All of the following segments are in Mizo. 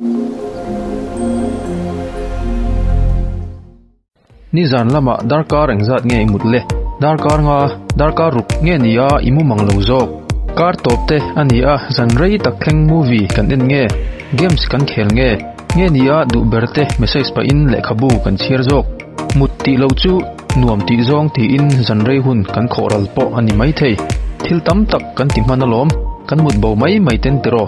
Nizan lamah darkar engzat nge i mut le? Darkar nga, darkar ruk nge ni a i mumang lo zawk. Kar tawp te a ni a, zan rei tak thleng movie kan en nge? Games kan khel nge? Nge ni a duh ber te message pahin lehkhabu kan chhiar zawk? Mut tih loh chu nuam tih zawng tiin zanrei hun kan khawh ral pawh a ni maithei. Thil tam tak kan ti hman alawm, kan mut bo mai mai ten tiraw.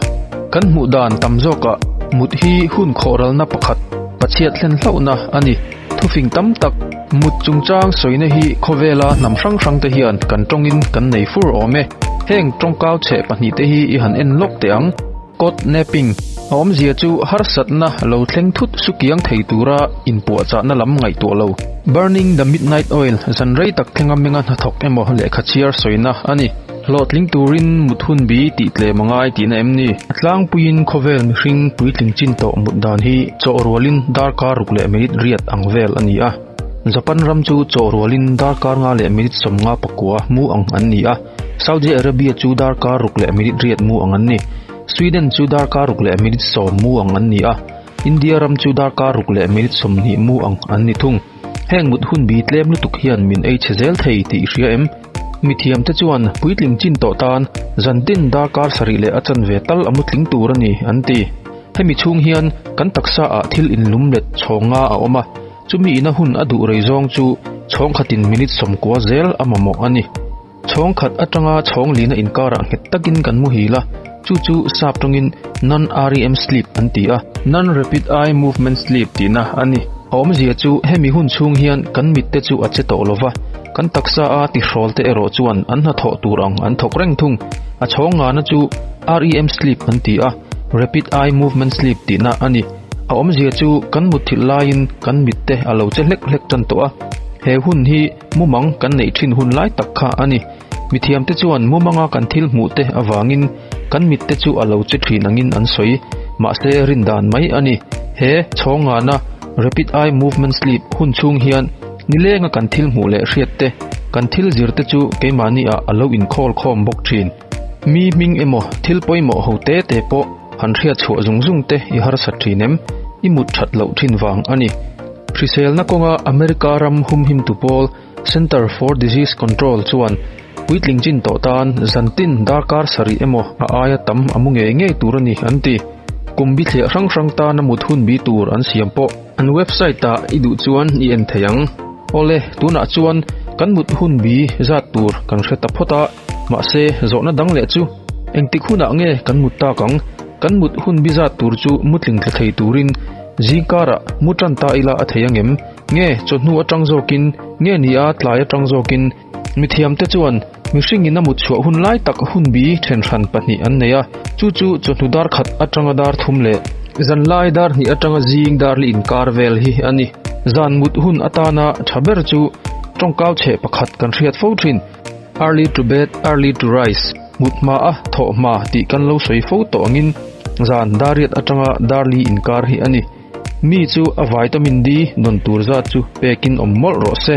Kan hmuh dan tam zawkah mut hi hun khawh ralna pakhat Pachhiat hlen hlauhna a ni. Thufing tam tak mut chungchang sawina hi khawvela hnam hrang hrang te hian kan tawngin kan nei fur awm e. Heng tawngkau chhe pahnihte hi i han en lawk teh ang. Codnapping, a awmzia chu harsatna lo thleng thut sukiang thei tura inpuahchahna lam ngaihtuah lo. Burning the Midnight Oil, zan rei tak thlenga menga hnathawk emaw lehkha chhiar sawina a ni. Hlawhtling turin mut hun bi tih tlem a ngai tihna em ni? Tlangpuiin khawvel mihring puitling chin tawh mut dan hi chawhrualin darkar ruk leh minute riat ang vel a ni a. Japan ram chu chawhrualin darkar nga leh minute sawmnga pakua hmu ang an ni a. Saudi Arabia chu darkar ruk leh minute riat mu ang an ni. Sweden chu darkar ruk leh minute sawm mu ang an ni a. India ram chu darkar ruk leh minute sawmhnih mu ang an ni thung. Heng mut hun bi tlem lutuk hian min ei chhe zel thei tih hria em? Mithiam te chuan puitling chin tawh tan zan tin darkar sarih leh a chanve tal a mutling tur a ni an ti. Hemi chhung hian kan taksa ah thil inlum let chhawng nga a awm a. Chumi ina hun a duh rei zawng chu chhawng khatin minute sawmkua zel a mamawh a ni. Chhawng khat atanga chhawng lina inkarah nghet takin kan muhil a, chu chu sap tawngin Non-REM sleep an ti a, Non-Rapid Eye Movement Sleep tihna a ni. A awmzia chu hemi hun chhung hian kan mitte chu a che tawh lo va, kan taksa a tihrawlte erawh chuan an hnathawh tur ang an thawk reng thung. A chhawng ngana chu REM sleep an ti a, Rapid Eye Movement Sleep tihna a ni. A awmzia chu kan mutthilh laiin kan mitte a lo che hlek hlek tan tawh a. He hun hi mumang kan neih thin hun lai tak kha a ni. Mi thiamte chuan mumanga kan thil hmuhte avangin kan mitte chu a lo che thin angin an sawi. Mahse rin dan mai a ni. He chhawng ngana, Rapid Eye Movement Sleep, hun chhung hian ni lenga kan thil hmuh leh hriatte, kan thil zirte chu keimahnihah a lo inkhawl khawm bawk thin. Mi hming emaw thil pawimawh ho te te pawh han hriatchhuah zung zung te i harsat thin em? I mut that loh thin vang a ni. Hriselna kawnga America ram humhimtu pawl Center for Disease Control chuan puitling chin tawh tan zantin darkar sarih emaw a aia tam a mu ngei ngei tur a ni an ti. Kum bithliah hrang hrang tana mut hunbi tur an siam pawh. An website ah i duh chuan i en thei ang. Awle, tunah chuan kan mut hun bi zat tur kan hre ta phawt a, mahse zawhna dang leh chu, engtik hunah nge kan mut tak ang? Kan mut hun bi zat tur chu mutling tla thei turin zingkarah mu tan ta ila a thei angem? Nge chawhnu atang zawkin, nge ni a tlai atang zawkin, Mithiam te chuan mihring in a mutchhuah hun lai tak hunbi then hran pahnih an nei a, chu chu chawhnu dar khat atanga dar thum leh zanlai dar hnih atanga zing dar li inkar vel hi a ni. Zan mut hun atana tha ber chu tawngkau chhe pakhat kan hriat fo thin, Early to bed, early to rise, mut hma a, thawh hma tih kan lo sawi fo tawh angin zan dariat atanga dar li inkar hi a ni. Mi chu a vitamin D dawn tur zat chu pek in awm mawlh rawh se.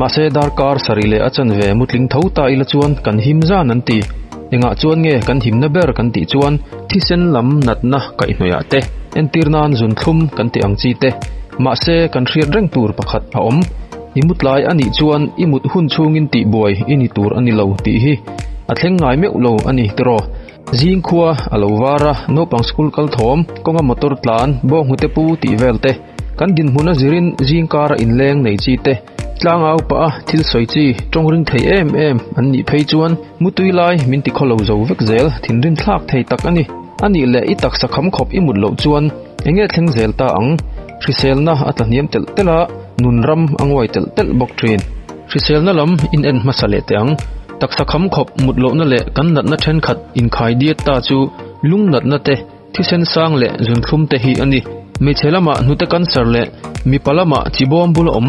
Mahse darkar sarih leh a chan ve mutling tho ta ila chuan kan him zan an ti. Engah chuan nge kan himna ber kan tih chuan thisen lam natna kaihhnawihah te, entir nan zun thlum kan tih ang chi te. Mahse kan hriat reng tur pakhat a awm. I mutlai a nih chuan i mut hun chhungin tihbuai i ni tur a ni lo tih hi a thleng ngai meuh lo a ni tiraw. Zing khua a lo var a, naupang school kal thawm, kawnga motor tlan, bawnghnute pu tih vel te. Kan dinhmun a zirin zingkar a inleng nei chi te, tlanga upa a thil sawi chi tawngring thei em em an nih phei chuan mutui lai min ti khaw lo zo vek zel, thinrim thlak thei tak a ni. A nih leh i taksa kham khawp i mut loh chuan enge thleng zel ta ang? Hriselna a tlahniam telh telh a, nun ram a nguai telh telh bawk thin. Hriselna lam in en hmasa leh teh ang. Taksa kham khawp mut lohna leh kan natna thenkhat inkhai diat ta chu lungnatna te, Thisen sang leh zun thlum te hi a ni. Hmeichhe lama hnute cancer leh mipa lama chi bawm bul a awm.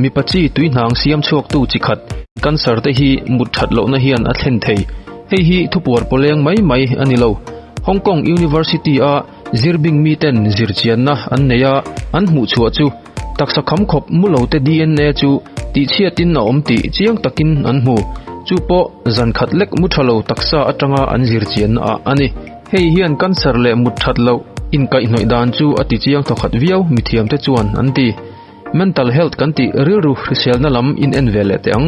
Mipa chi tui hnang siam chhuak tu chi khat cancer te hi mut that loh na hian a thlen thei. Hei hi thupuar paw leng mai mai a ni lo. Hong Kong University a zir bing mi ten zir chian na an nei a, an hmuh chhuah chu taksa kham khawp mu lo te DNA chu tih chhiat in a awm tih chiang tak in an hmu. Chu pawh zan khat lek mu tha lo taksa atanga an zir chian na ah a ni. Hei hian cancer leh mut that loh inkaihhnawih dan chu a tichiang thaw khat viau mithiam te chuan an ti. Mental health kan tih rilru hriselna lam in en ve leh teh ang.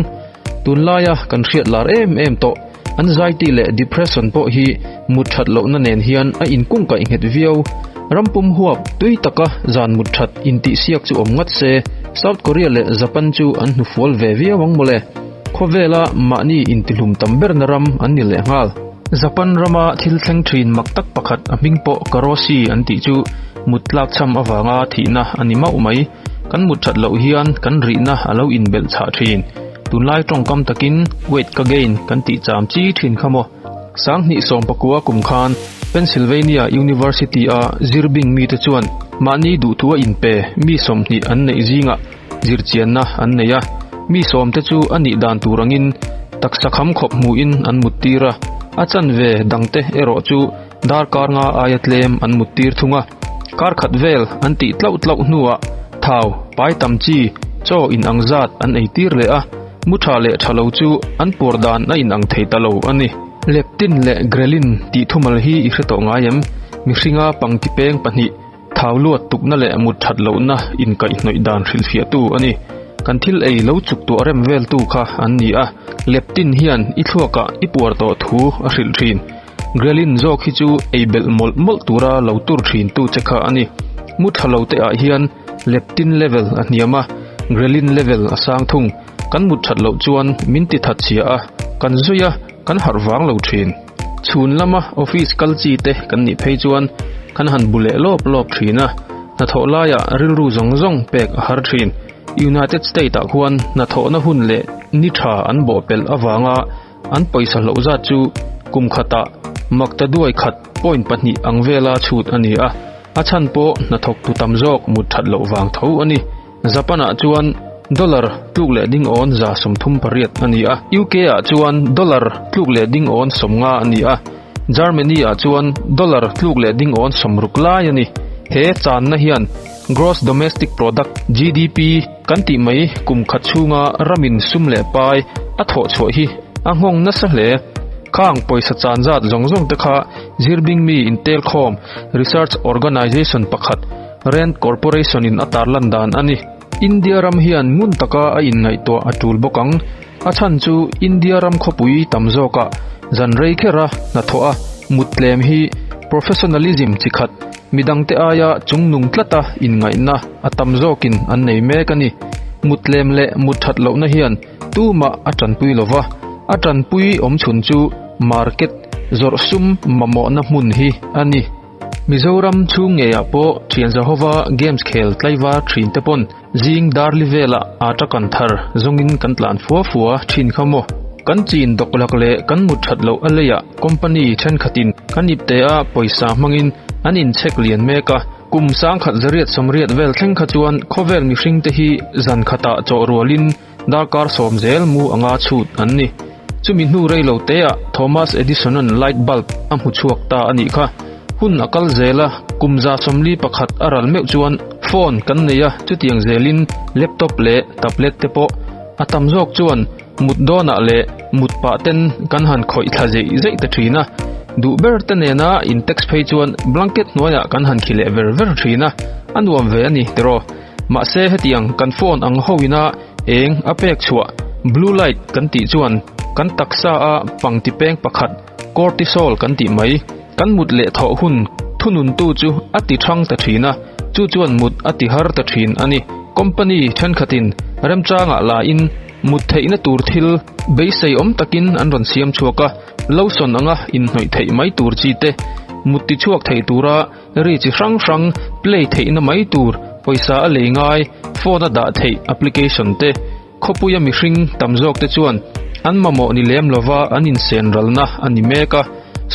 Tun laia kan hriat lar em em tawh anxiety leh depression pawh hi mut that lohna nen hian a in kungkaih nghet viau. Ram pum huap tui taka zan mut that in tih siak chu awm ngat se South Korea leh Japan chu an hnufual ve viau ang mawle. Khawvela mahni intihlum tam berna ram an ni lehnghal. Japan rama thil thleng thin mak tak pakhat a hming pawh Karoshi an tih chu mut tlak chham avanga thihna a ni mauh mai. Kan mut that loh hian kan rihna a lo inbelh chhah thin. Tunlai tawngkam takin weight ka gain kan tih cham chi thin kha maw. Sang hnih sawm pakua kum khan Pennsylvania University-a zir bing mite chuan mahni duhthu a inpe mi sawmhnih an neih zingah, Zirchianna an nei a, mi sawmte chu a nih dan tur angin taksa kham khawp hmuhin an muttir a, a chanve dangte erawh chu dar karnga aia tlem an muttir thung a. Kar khat vel an tih tlauh tlauh hnuah thau, pai tam chi, chaw in ang zat an ei tir leh a, mu tha leh tha lo chu an puar dan a in ang thei ta lo a ni. Leptin leh ghrelin tih thumal hi i hre tawh ngai em? Mihringa pangti peng pahnih. Thau luat tukna leh mut that lohna inkaihnawih dan hrilhfiahtu a ni. Kan thil ei lo chuk tuah rem veltu kha an ni a, leptin hian i thluakah i puar tawh thu a hrilh thin. Ghrelin zawk hi chu ei belh mawlh mawlh tura lo tur thintu che kha a ni. Mu tha lo te ah hian leptin level a hniam a, ghrelin level a sang thung. Kan mut that loh chuan min ti that chhia a, kan zawi a, kan harh vang lo thin. Chhun lama office kal chi te kan nih phei chuan kan han bu leh lawp lawp thin a, hnathawh laia rilru zawng zawng pek a har thin. United State ah khuan hnathawhna hun leh ni tha an bawhpelh avanga an pawisa hloh zat chu kum khatah makta duai khat point pahnih ang vela chhut a ni a, a chhan pawh hnathawk tu tam zawk mut that loh vang tho a ni. Japan-ah chuan dollar tluk leh ding awn za sawm thum pariat a ni a, UK-ah chuan dollar tluk leh ding awn sawm nga a ni a, Germany-ah chuan dollar tluk leh ding awn sawm ruk lai a ni. He channa hian Gross Domestic Product, GDP, kan tih mai kum khat chhunga ramin sum leh pai a thawh chhuah hi a nghawng nasa hle. Khang pawisa chan zat zawng zawngte kha Zirbingmi Intelkhawm Research Organisation pakhat, Rand Corporation-in a tarlan dan a ni. India ram hian ngun taka a inngaihtuah a tul bawk ang. A chhan chu India ram khawpui tam zawkah zan rei khera hnathawh a muttlem hi professionalism chi khat, midangte aia chungnung tlata inngaihna a tam zawkin an nei mek a ni. Muttlem leh mutthat lohna hian tumah a tanpui lo va, a tanpui awmchhun chu market zawrhsum mamawhna hmun hi a ni. Mizoram chhung ngeiah pawh thian zahova games khel tlaivar thin te pawn zing darli vela aa ta kan thar zawngin kan tlan fua fua thin kha maw. Kan chin dawk lak leh kan mut that loh a leiah company thenkhatin ka nip te a pawisa hmangin an in check lian mek a. Kum sangkhat zariat sawmriat vel thleng kha chuan khawvel mihringte hi zan khatah chawh rualin darkar sawm zel mu anga chhut an ni. Chumi hnu rei lo têah Thomas Edison-a'n light bulb a hmu chhuak ta a nih kha. Hun a kal zel a, kum za sawmli pakhat a ral meuh chuan phone kan nei a, chutiang zelin laptop leh tablet te pawh. A tam zawk chuan mut dawnah leh mut pah ten kan han khawih thla zeih zeih ta thin a. Duh ber te nena in text phei chuan blanket hnuaiah kan han khi leh ver ver thin a, a nuam ve a ni tiraw? Mahse hetiang kan phone ang ho ina eng a pek chhuah blue light kan tih chuan kan taksa a pangtipeng pakhat cortisol kan tih mai. Kan mut leh thawh hun thununtu chu a ti thang ta thin a, chu chuan mut a ti har ta thin a ni. Company thenkhatin remchangah lain mut theihna tur thil beiseiawm takin an rawn siam chhuak a, lo sawn anga inhnawih theih mai tur chi te, mut tichhuak theih tura, Ri chi hrang hrang play theihna mai tur, pawisa a lei ngai, phone a dah theih application te, khawpuia mihring tam zawk te chuan an mamawh ni lem lova an insen ralna a ni mek a.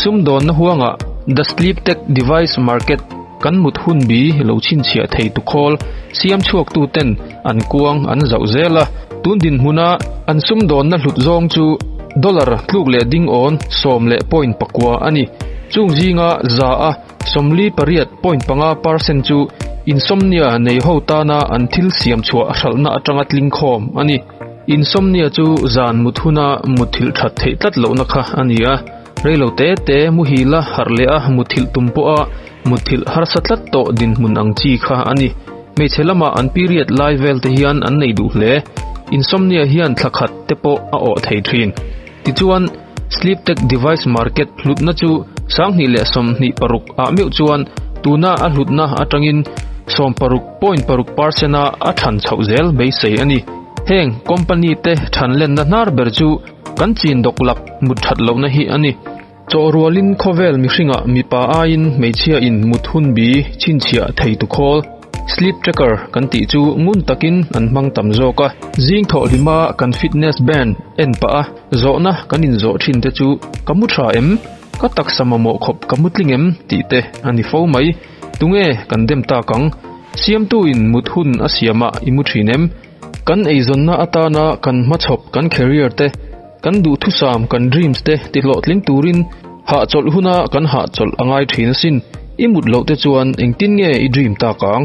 Sumdawnna huangah The Sleep Tech Device Market kan mut hunbi lo chhinchhiah thei tukhawl siam chhuaktu ten, An kuang an zauh zel a, tun dinhmuna an sumdawnna hlut zawng chu dollar tluk leh dingawn sawm leh point pakua a ni. Chung zinga za a sawmli pariat point panga per cent chu insomnia nei ho tana an thil siam chhuah hralhna atanga tling khawm a ni. Insomnia chu zan mut huna mutthilh that theih tlat lohna kha a ni a. Reilo te te muhil a harh leh a, muthilh tum pawh a mutthilh harsa tlat tawh dinhmun ang chi kha a ni. Hmeichhe lamah an period lai vel te hian an nei duh hle. Insomnia hian thla khat te pawh a awh thei thin. Tichuan, sleep tech device market hlutna chu sanghnih leh sawmhnih paruk ah meuh chuan tuna a hlutna atangin sawm paruk point paruk percent a a than chhoh zel beisei a ni. Heng company te thanlenna hnar ber chu, Kan chin dawk lak mut that lohna hi a ni. Chaw rualin khawvel mihringah mipa aiin hmeichhia in mut hun bi chhinchhiah thei tu khawl, sleep tracker, kan tih chu ngun takin an hmang tam zawk a. Zing thawhhlim a kan fitness band en pah a, zawhna kan in zawh thin te chu ka mu tha em? Ka taksa mamawh khawp ka mu tling em? tih te a ni fo mai. Tunge kan dem tak ang? Siamtuin mut hun a siamah i mu thin em? Kan eizawnna atana kan hmachhawp, kan career te, kan duhthusam, kan dreams te tihlawhtling turin hahchawlh huna kan hahchawlh a ngai thin asin. I mut loh te chuan engtin nge i dream tak ang?